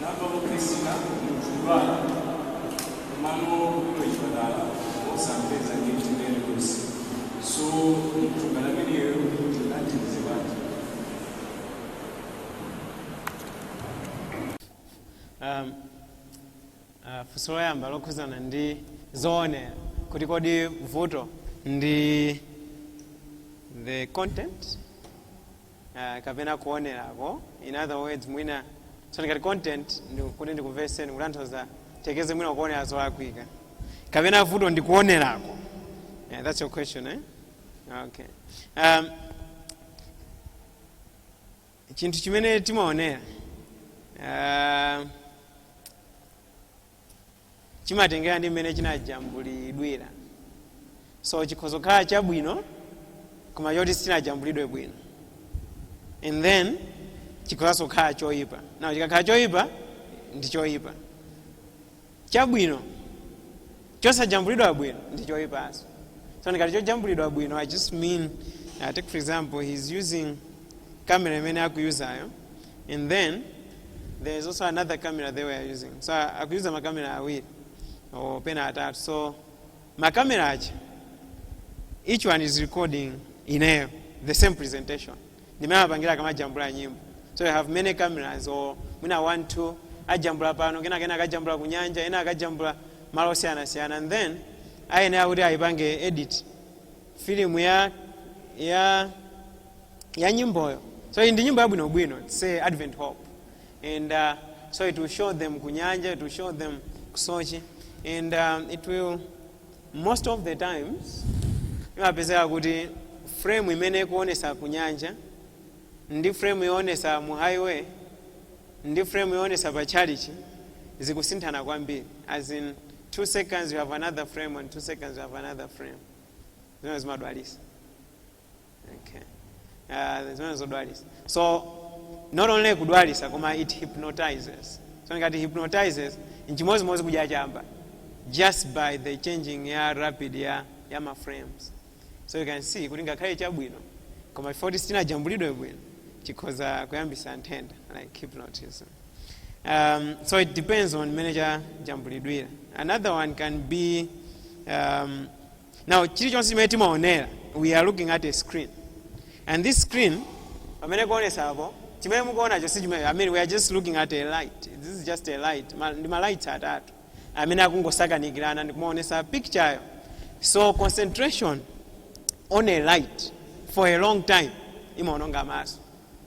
Namvanso Priscilla Mjulwana mano kuno chipatala osampeza ndi mtendere kusi so mthumbala ameneyo tingathandize banja Um, uh, funso loyamba lokhuzana ndi zoonera kuti kodi vuto ndi the content ah, kapena kuonerako in other words mwina so ngati content kuti ndikumveseni mukutanthauza tekeze mwina ukuonera zolakwika kapena vuto ndikuonerako yeah, that's your question eh? okay um, chinthu chimene timaonera uh, chimatengera ndi mmene chinajambulidwira so chikhoza kukhala chabwino koma choti sichinajambulidwe bwino and then chikhozanso kukhala choyipa now chikakhala choyipa ndi choyipa chabwino chosajambulidwa bwino ndi choyipanso so ndikati chojambulidwa bwino i just mean uh, take for example he's using camera imene akuyuzayo and then there is also another camera they were using so akuyuza makamera awiri kapena atatu so makamera aja each one is recording ineyo the same presentation ndimene amapangira akamajambula nyimbo so you have many cameras or mwina one two ajambula pano kenako ena akajambula ku nyanja ena akajambula malo osiyanasiyana and then ayenera kuti ayipange edit filimu ya ya ya nyimboyo so iyi ndi nyimbo yabwinobwino its a advent hope and uh, so it will show them kunyanja it will show them ku tchalitchi and um, it will most of the times imapezeka kuti frame imene ikuonesa kunyanja ndi frame yoonesa mu highway ndi frame yoonesa pa chalichi zikusinthana kwambiri as in two seconds you have another frame and two seconds you have another frame zimene zimadwalisa okay. uh, zimenezo zodwalisa so not only kudwalisa koma it hypnotizes so ngati hypnotizes nchimozimozi kudya chamba just by the changing ya rapid ya, ya ma frames so you can see kuti ngakhale chabwino koma if it is sichinajambulidwe bwino chikhoza kuyambisa nthenda like hypnotism um, so it depends on mmene chajambulidwira another one can be um, now chilichonse chimene timaonera we are looking at a screen and this screen pamene ikuonesa apo chimene mukuonacho si chimene i mean we are just looking at a light this is just a light ma, ndi malights atatu amene akungosakanikirana ndikumaonesa picture yo so concentration on a light for a long time imaononga maso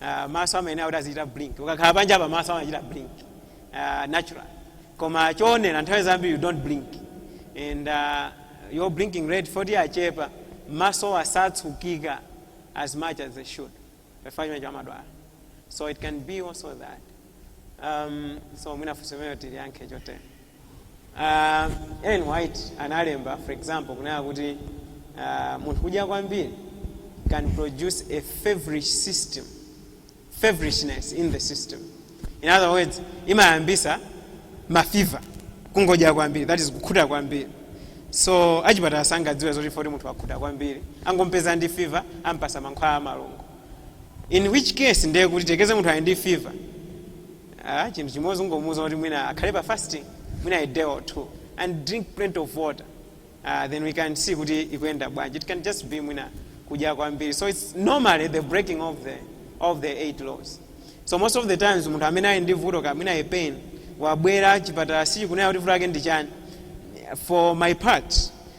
uh, maso amayenera kuti azichita blink ukakhala panja apa maso amachita blink uh, natural koma choonera nthawi zambiri you don't blink and uh, your blinking rate imafoti achepa maso asatsukika as much as they should chifukwa cha mankhwala so it can be also that Um, so mwina funso limeneli tiliyankhe chotere uh, Ellen White analemba for example kunena kuti uh, munthu kudya kwambiri can produce a feverish system feverishness in the system in other words imayambisa mafiva kungodya kwambiri that is kukhuta kwambiri so achipatala sangadziwe zoti foti munthu wakhuta kwambiri angompeza ndi fiva ampasa mankhwala amalungo in which case ndiye kuti tiyerekeze munthu ali ndi fever ah, chinthu chimodzi ungomuuza kuti mwina akhale pa fasting mwina a day or two and drink plenty of water uh, then we can see kuti ikuyenda bwanji it can just be mwina kudya kwambiri so it's normally the breaking of the, of the eight laws so most of the times munthu amene ali ndi vuto kaya mwina a pain wabwera chipatala sichikudziwa kuti vuto lake ndi chani for my part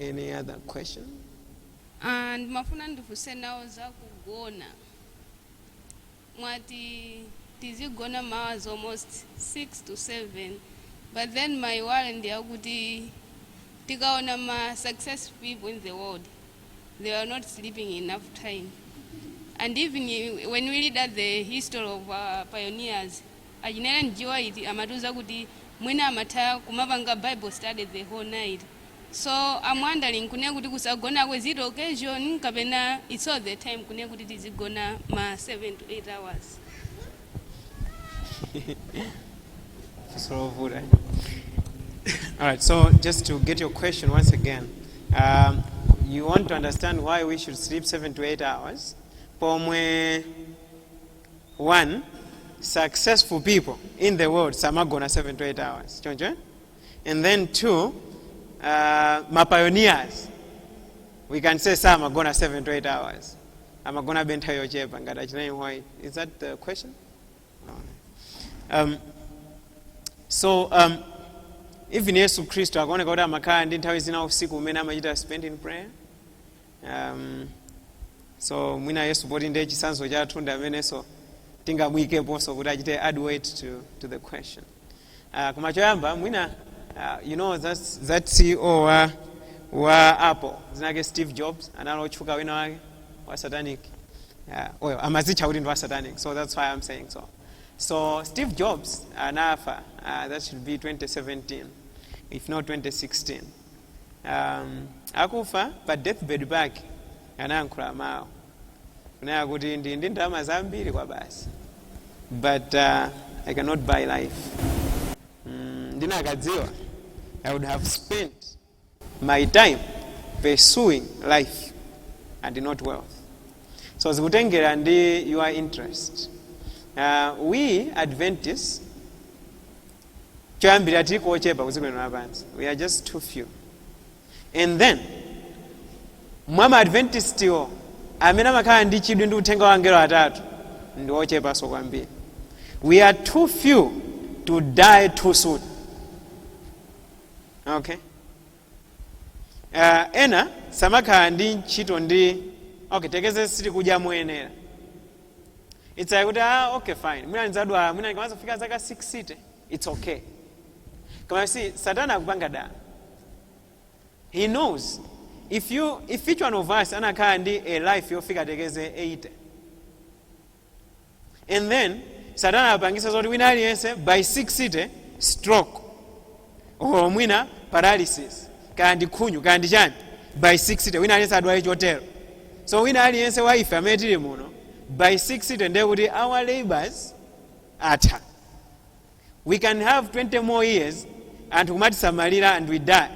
Any other question? Ah, ndimafuna ndifunse nawo za kugona mwati tizigona ma hours almost 6 to 7 but then my worry ndi yakuti tikaona ma successful people in the world they are not sleeping enough time and even i- when we read at the history of our pioneers Achina Ellen G White amatiuza kuti mwina amatha kumapanga bible study the whole night so am wondering kunena kuti kusagonako is it occasion kapena its all the time kunena kuti tizigona ma 7 to 8 hours. funso lovuta all right so just to get your question once again um, you want to understand why we should sleep 7 to 8 hours pomwe 1 successful people in the world samagona 7 to 8 hours choncho eh? and then 2 uh, mapioneers we can say samagona 7 to 8 hours amagonabe nthawi yochepa ngati achinayi why is that the question no. um, so um, even yesu khristu ankaoneka kuti amakhala ndi nthawi zina usiku umene amachita spend in prayer um, so mwina yesu poti ndiye chitsanzo chathu ndi amenenso tingamuyikeponso kuti achite add weight to, to the question uh, koma choyamba mwina uh, you know that's, that ceo wa, wa apple dzina lake steve jobs anali otchuka wina wake wa satanic yeah, well, amazitcha kuti ndi wa satanic so that's why i'm saying so so steve jobs anafa uh, that should be 2017 if not 2016 um, akufa pa deathbed pake anayankhula mawu kunena kuti ndili ndi ndalama zambiri kwabasi but uh, i cannot buy life mm, ndinakadziwa i would have spent my time pursuing life and not wealth so zikutengera ndi your interest uh, we adventists choyambirira tilipo ochepa ku dziko lino lapansi we are just too few and then mwa maadventistiwo amene amakhala ndi chidwi ndi uthenga wa angelo atatu ndi ochepanso kwambiri we are too few to die too soon okay uh, ena samakhala ndi ntchito ndi okay tekeze sitikudya moyenera it's like kuti ah, okay fine mwina ndidzadwala mwina ndikamadzafika zaka 60 it's okay koma you see satana akupanga dala he knows if each one of us anakhala ndi a life yofika tekeze 80 and then satana apangitsa zoti wina aliyense by 60 stroke or mwina paralysis kaya ndi khunyu kaya ndi chani by 60 wina aliyense adwale chotero so wina aliyense wa ife amene tili muno by 60 ndiye kuti our labors atha we can have 20 more years anthu kumatisamalira and we die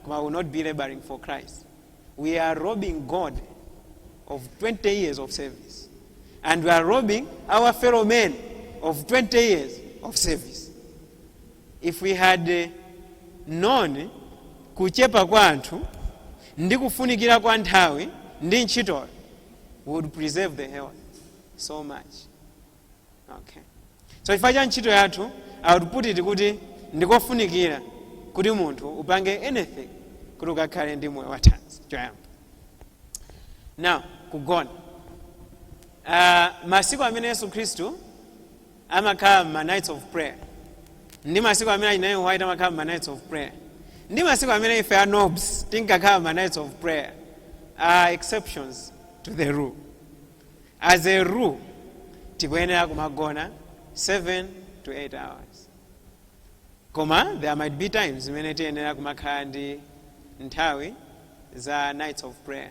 koma we'll not be laboring for christ we are robbing god of 20 years of service and we are robbing our fellow men of 20 years of service If we had known kuchepa kwa anthu ndi kufunikira kwa nthawi ndi ntchitoyo we would preserve the health so much. Okay. So chifukwa cha ntchito yathu I would put it kuti ndikofunikira kuti munthu upange anything kuti ukakhale ndi moyo wathanzi choyamba. Now kugona. Uh, masiku amene Yesu Khristu amakhala m'ma nights of prayer ndi masiku amene achina E G White amakhala m'ma nights of prayer ndi masiku amene ife a nobs tinkakhala m'ma nights of prayer are exceptions to the rule as a rule tikuyenera kumagona 7 to 8 hours koma there might be times zimene tiyenera kumakhala ndi nthawi za nights of prayer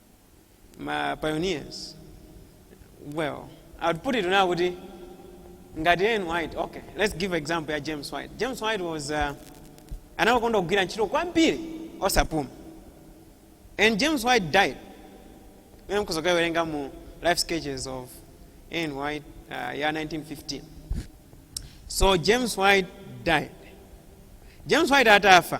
ma pioneers well i would put it now kuti ngati ellen white okay let's give example ya james white james white was uh, anakonda kugwira ntchito kwambiri osapuma and james white died ine nkudzakawerenga mu life sketches of ellen white uh, ya 1915 so james white died james white atafa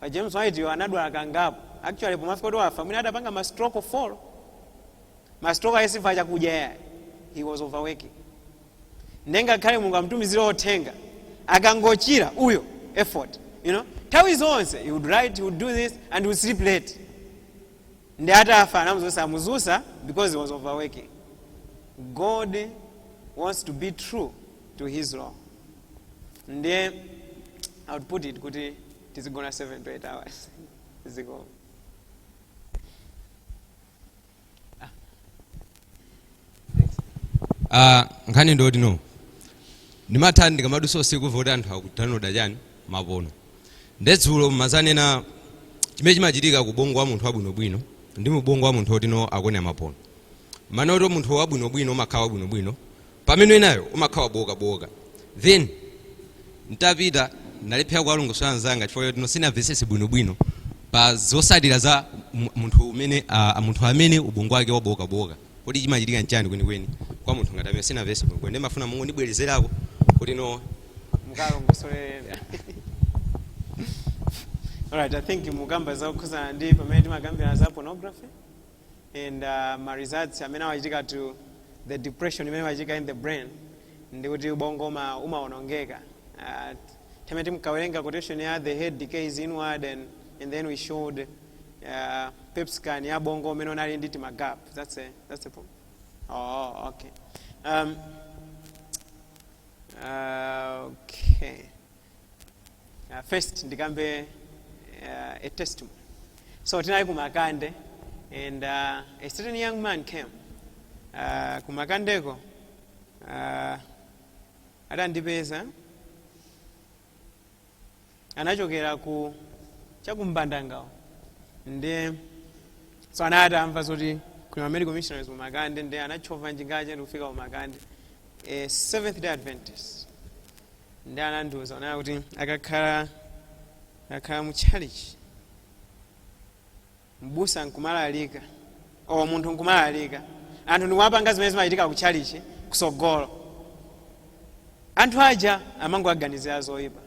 pa james white yo anadwala kangapo actually pomafika kuti wafa mwina adapanga ma stroke four ma stroke wo si chifukwa cha zakudya ayi he was overworking nde ngakhale mulungu amtumizire uthenga akangochira uyo effort you know nthawi zonse he would write he would do this and he would sleep late nde atafa anamudzutsa samudzutsa because he was overworking god wants to be true to his law ndiye i would put it kuti tizigona 7 to 8 hours ziko Ah, nkhani ndi yoti no ndimatha ndikamadutsa usiku kumva kuti anthu akudownloda chani mapono nde dzulo munadzanena chimene chimachitika ku ubongo wa munthu wabwinobwino ndi mubongo wa munthu otino akonera mapono munati wa munthu wabwinobwino umakhala wabwinobwino pamene winayo umakhala wabooka booka then ntapita ndalephera kuwalongosola mnzanga chifukwa choti no sindinamvetsetse bwino bwino pa zotsatira za mu- munthu umene ah, munthu amene ubongo wake wabooka booka kodi chimachitika nchani kwenikweni kwa munthu ngati ameneyo sindinamvetse bwino bwino ndimafuna mungondibwerezerako kuti no mukawalongosolera alright i think mukukamba zokhudzana ndi pamene timakambirana za pornography and uh, ma results amene amachitika through the depression imene imachitika in the brain ndi kuti ubongo uma- umawonongeka uh, time timkawerenga quotation ya the head decays inward and, and then we showed uh, pet scan ya ubongo umene unali ndi timagap that's a, that's a problem oh okay um, uh, okay Uh, first ndikambe uh, a testimony so tinali kumakande and uh, a certain young man came uh, kumakandeko uh, adandipeza anachokera ku chakumbandanga uko nde so anati atamva zoti kuli ma medical missionaries kumakande nde anatchova njinga yake ndikufika kumakande a seventh day adventist ndi anandiuza kunena kuti akakhala akakhala mu chalichi mbusa nkumalalika o munthu nkumalalika anthu ndikumapanga zimene zimachitika ku chalichi kusogolo anthu aja amangowaganizira zoyipa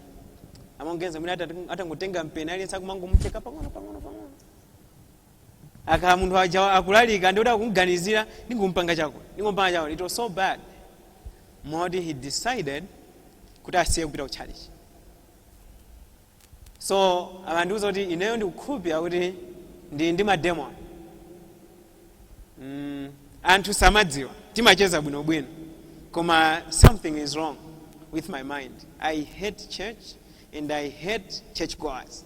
amangoganiza kuti atangotenga mpeni aliyense akumangomucheka pang'ono pang'ono pang'ono akakhala munthu uja akulalika ndikuti akumganizira ndingompanga chakuti ndingompanga chakuti it was so bad moti he decided kuti asiye kupita ku church so amandiuza kuti ineyo ndikukhulupira kuti ndili ndi mademon mm, anthu samadziwa timacheza bwinobwino koma something is wrong with my mind i hate church and i hate church goers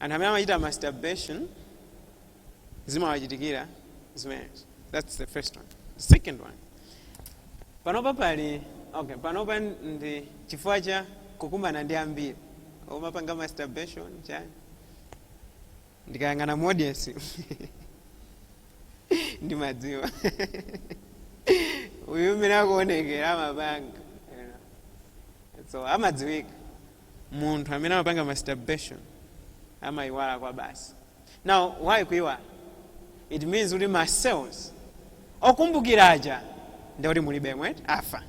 anthu amene amachita masturbation zimawachitikira zimenezo that's the first one the second one panopa pali okay panopa ndi chifukwa cha kukumana ndi ambiri omapanga masturbation chani ndikayang'ana modesi ndimadziwa uyu mmene akuonekera amapanga you know. so amadziwika munthu amene amapanga masturbation amayiwala kwabasi now why kuyiwala it means kuti ma cells okumbukira aja ndikuti mulibemo afa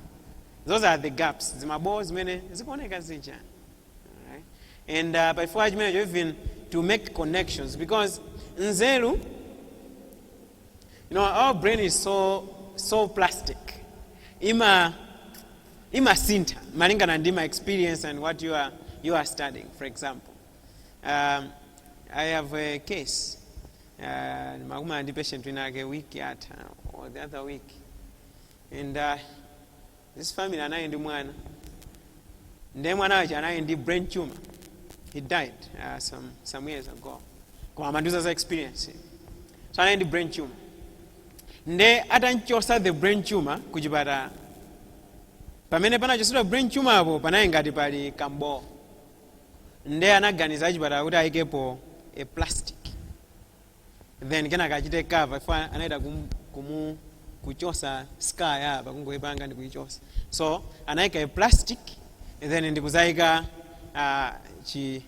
those are the gaps zimabowo zimene zikuoneka zija Alright. and uh, pachifukwa chimenecho even to make connections because nzeru you know our brain is so so plastic ima imasintha malingana ndi ma experience and what you are, you are studying for example um, i have a case uh, ndimakumana ndi patient winawake week yatha or the other week and uh, this family anali ndi mwana ndiye mwana wake anali ndi brain tumor he died uh, some, some years ago koma amandiuza za experience so anali ndi brain tumor nde atamchosa the brain tumor ku chipatala pamene panachosedwa brain tumor apo panali ngati pali kambowo nde anaganiza achipatala kuti ayikepo a plastic then kenaka achite cover iwo anaita kum, kumu kuchosa skull ya apa kungoipanga ndi kuichosa so anayika a plastic then ndikudzayika uh, chi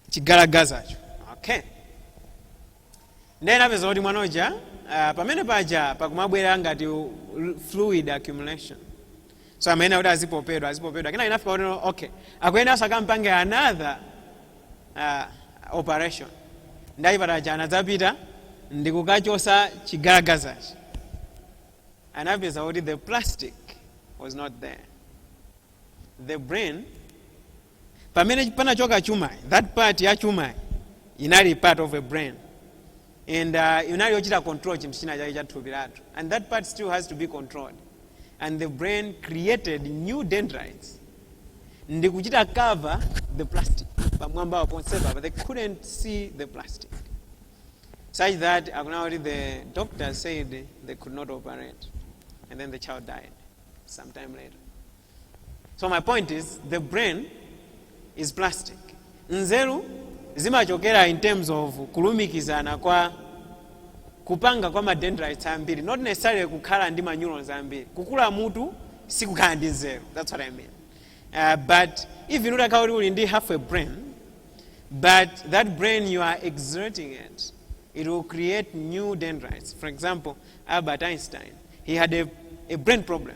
chigalagazacho okay Ndiye napeza kuti mwana uja ah, pamene paja pakumabwera ngati u- l- fluid accumulation so amayenera kuti azipopedwa azipopedwa kenako inafika kuti okay akuyenera so akampange another ah, operation ndi achipatala aja anadzapita ndikukachosa chigazachi anapeza kuti the plastic was not there the brain pamene panachoka chuma that part ya chuma inali part of a brain and uh, inali yochita control chinthu china chake cha thupi lathu and that part still has to be controlled and the brain created new dendrites ndi kuchita cover the plastic pamwamba ponsepa but they couldn't see the plastic such that akunena kuti the doctor said they could not operate and then the child died sometime later So my point is the brain is plastic. Nzeru zimachokera in terms of kulumikizana kwa kupanga kwa ma dendrites ambiri not necessarily kukhala ndi ma neurons ambiri kukula mutu sikukhala ndi nzeru that's what i mean uh, but even utakhala kuti uli ndi half a brain but that brain you are exerting it it will create new dendrites for example albert einstein he had a, a brain problem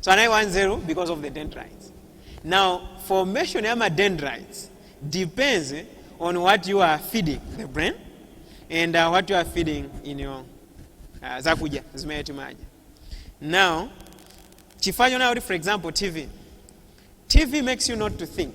so anali wanzeru because of the dendrites now formation ya ma dendrites depends on what you are feeding the brain and uh, what you are feeding in your uh, zakudya zimene timadya now chifukwa chonayo kuti for example tv tv makes you not to think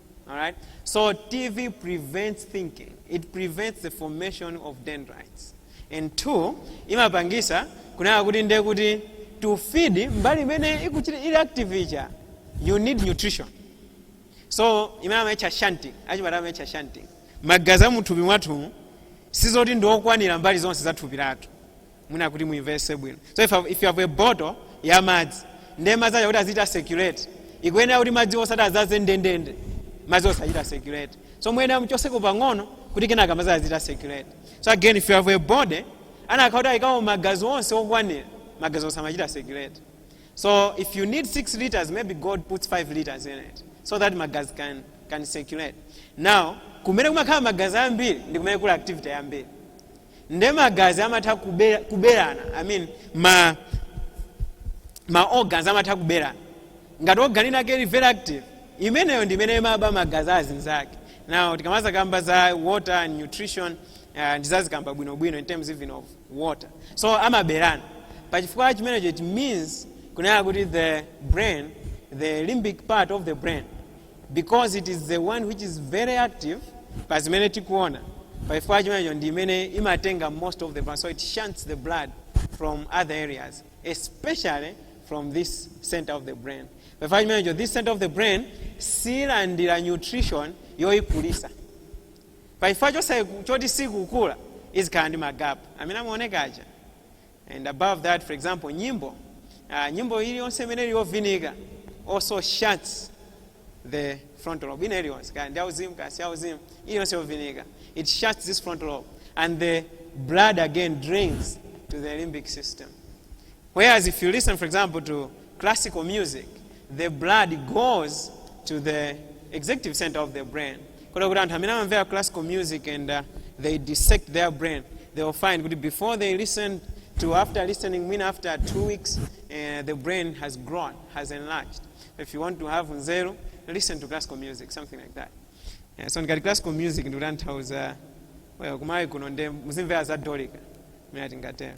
All right? So TV prevents thinking. It prevents the formation of dendrites. And two, imapangisa kunena kuti nde kuti to feed mbali imene ikuchita ili active ija you need nutrition. So imene amaitcha shunting, achipatala amaitcha shunting. Magazi a muthupi mwathumu sizoti ndiokwanira mbali zonse za thupi lathu. mwina kuti muimvese bwino so if, you have- if you have a bottle ya madzi ndiye madzi aja kuti azichita circulate ikuyenera kuti madzi osati azaze ndendende madzi osachita circulate so muyenera muchoseko pang'ono kuti kenaka madzi azichita circulate so again if you have a body anakhala kuti ayikamo magazi onse okwanira magazi sangamachite circulate so if you need 6 liters maybe god puts 5 liters in it so that magazi can, can circulate now kumene kumakhala magazi ambiri ndi kumene kuli activity yambiri nde magazi amatha kubera- kuberana i mean ma ma organs amatha kuberana ngati organ inake ili very active imeneyo ndi imene imaba magazi azinzake now tikamazakamba za water and nutrition uh, ndizazikamba bwinobwino in terms even of water so amaberana pachifukwa chimenecho it means kunena kuti the brain the limbic part of the brain because it is the one which is very active pa zimene tikuona pachifukwa chimenecho ndi imene imatenga most of the blood so it shunts the blood from other areas especially from this center of the brain pachifukwa chimenecho this center of the brain silandira nutrition yoyikulisa pachifukwa chosaiku- choti sikukula izikhala ndi magapu amene amaoneka aja and above that for example nyimbo uh, nyimbo iliyonse imene ili yovinika also shuts the frontal lobe ina iliyonse kaya ndi auzimu kaya si auzimu iliyonse yovinika it shuts this frontal lobe and the blood again drains to the limbic system whereas if you listen for example to classical music the blood goes to the executive center of the brain kota kuti anthu amene amamvera classical music and uh, they dissect their brain they will find kuti before they listen to after listening mwina after two weeks uh, the brain has grown has enlarged if you want to have nzeru listen to classical music something like that yeah, so ngati classical music ndikutanthauza well kumayi kuno nde muzimvera za dolika mene tingatero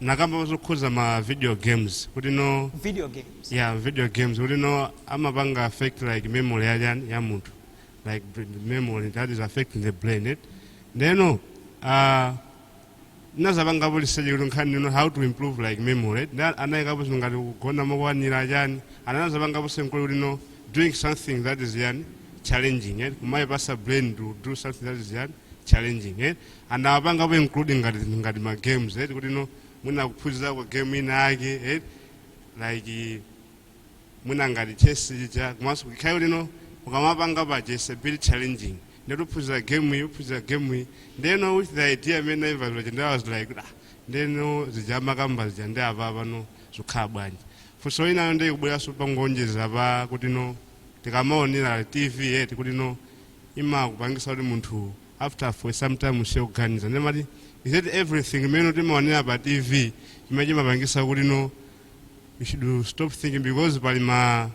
mnakamba zokhuza ma video games kuti no video games yeah video games kuti no amapanga affect like memory ya chani ya munthu like br- memory that is affecting the brain it ndeno uh, ndinazapangapo research kuti nkhani ino how to improve like memory eti Nda- anayikapo zinthu ngati kugona mokwanira chani ana nazapangapo something kuti no doing something that is yani challenging eti kumayipasa brain to do something that is yani challenging eti anawapangapo include ngati ngati ma games eti kuti no mwina kuphunzirako game ina yake eti like mwina ngati chess chicha komanso kukhayo lino ukamapanga paja is a bit challenging ndeti uphunzire game iyi uphunzire game iyi ndeno with the idea imene naimva paja ndi I was like ah ndeno zija amakamba zija ndi apa pano zikukhala bwanji funso linalo ndi kubweranso pongoonjeza pa kuti no tikamaonera tv eti kuti no imakupangisa kuti munthu after for some time asiye kuganiza ndimati is that everything imene timaonera pa tv chimene chimapangisa kuti no you should stop thinking because pali ma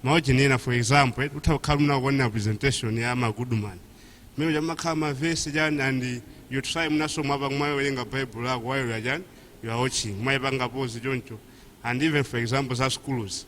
maojeni ena for example eh, utha kukhala ukuonera presentation ya magoodman mmene amakhala mavesi chani and you try mwinaso mwapa mwawerenga bible lanu while you are chani you are watching mwaipanga pause choncho and even for example za schools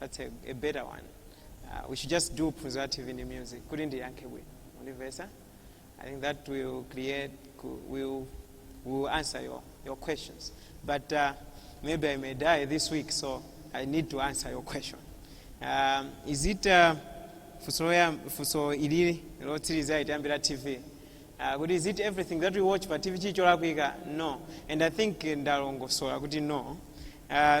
that's a, a better one uh, we should just do phunzira tv ndi music kuti ndiyankhe bwino undimvesa i think that will create ku- will, will answer your, your questions but uh, maybe i may die this week so i need to answer your question um, is it uh, funso loyam- funso ilili lotsiriza itambira tv uh, kuti is it everything that we watch pa tv chili cholakwika no and i think ndalongosola kuti no uh,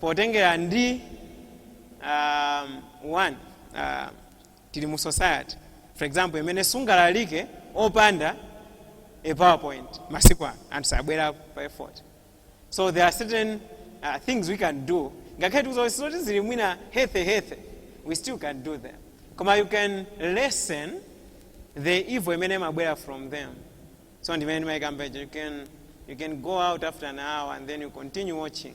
potengera ndi um, one uh, tili mu society for example imene sungalalike opanda a powerpoint masiku ano anthu sabwera pa effort, so there are certain uh, things we can do ngakhale tikuti zoti zili mwina healthy healthy we still can do them koma you can lessen the evil imene imabwera from them so ndimene ndimaikamba ija you can you can go out after an hour and then you continue watching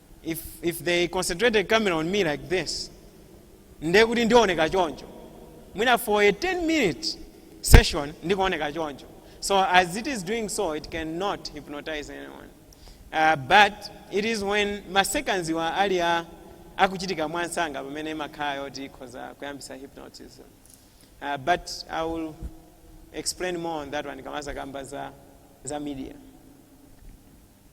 If, if they concentrated camera on me like this ndiye kuti ndioneka choncho mwina for a 10 minute session ndikuoneka choncho so as it is doing so it cannot hypnotize anyone uh, but it is when ma sequence wa ali a akuchitika mwansanga pamene imakhala yoti ikhoza kuyambisa hypnotism uh, but i will explain more on that one ndikamazakamba za, za media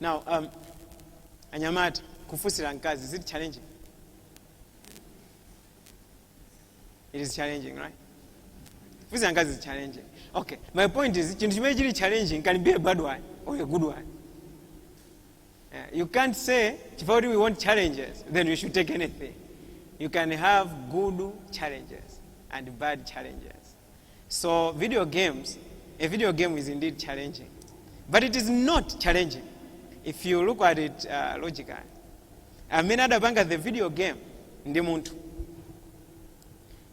now um, anyamata kufunsira mkazi zili challenging it is challenging right kufunsira mkazi is challenging okay my point is chinthu chimene chili challenging can be a bad one or a good one Yeah, you can't say chifukwa kuti we want challenges then we should take anything you can have good challenges and bad challenges So video games, a video game is indeed challenging. But it is not challenging if you look at it uh, logically. Amene adapanga the video game ndi munthu.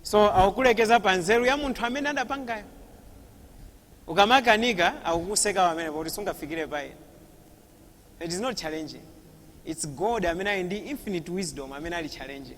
So akukulekeza pa nzeru ya munthu amene adapangayo. Ukamakanika akukuseka amene pakuti sungafikire pa iye. It is not challenging. It's God amene ali ndi infinite wisdom amene ali challenging.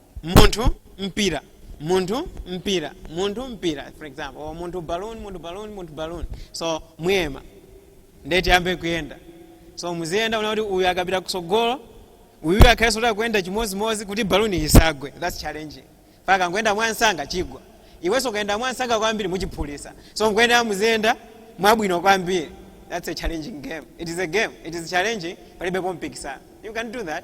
munthu mpira munthu mpira munthu mpira for example or munthu balloon munthu balloon munthu balloon so muyima nde tiyambe kuyenda so muziyenda muone kuti uyu akapita kusogolo uyu akhalenso kuti akuyenda chimozimozi kuti baluni isagwe thats challenging poti ukayenda mwamsanga chigwa iwenso ukayenda mwamsanga kwambiri muchiphulisa so poyenda muziyenda mwabwino kwambiri thats a challenging game it is a game it is challenging palibepo mpikisano you can do that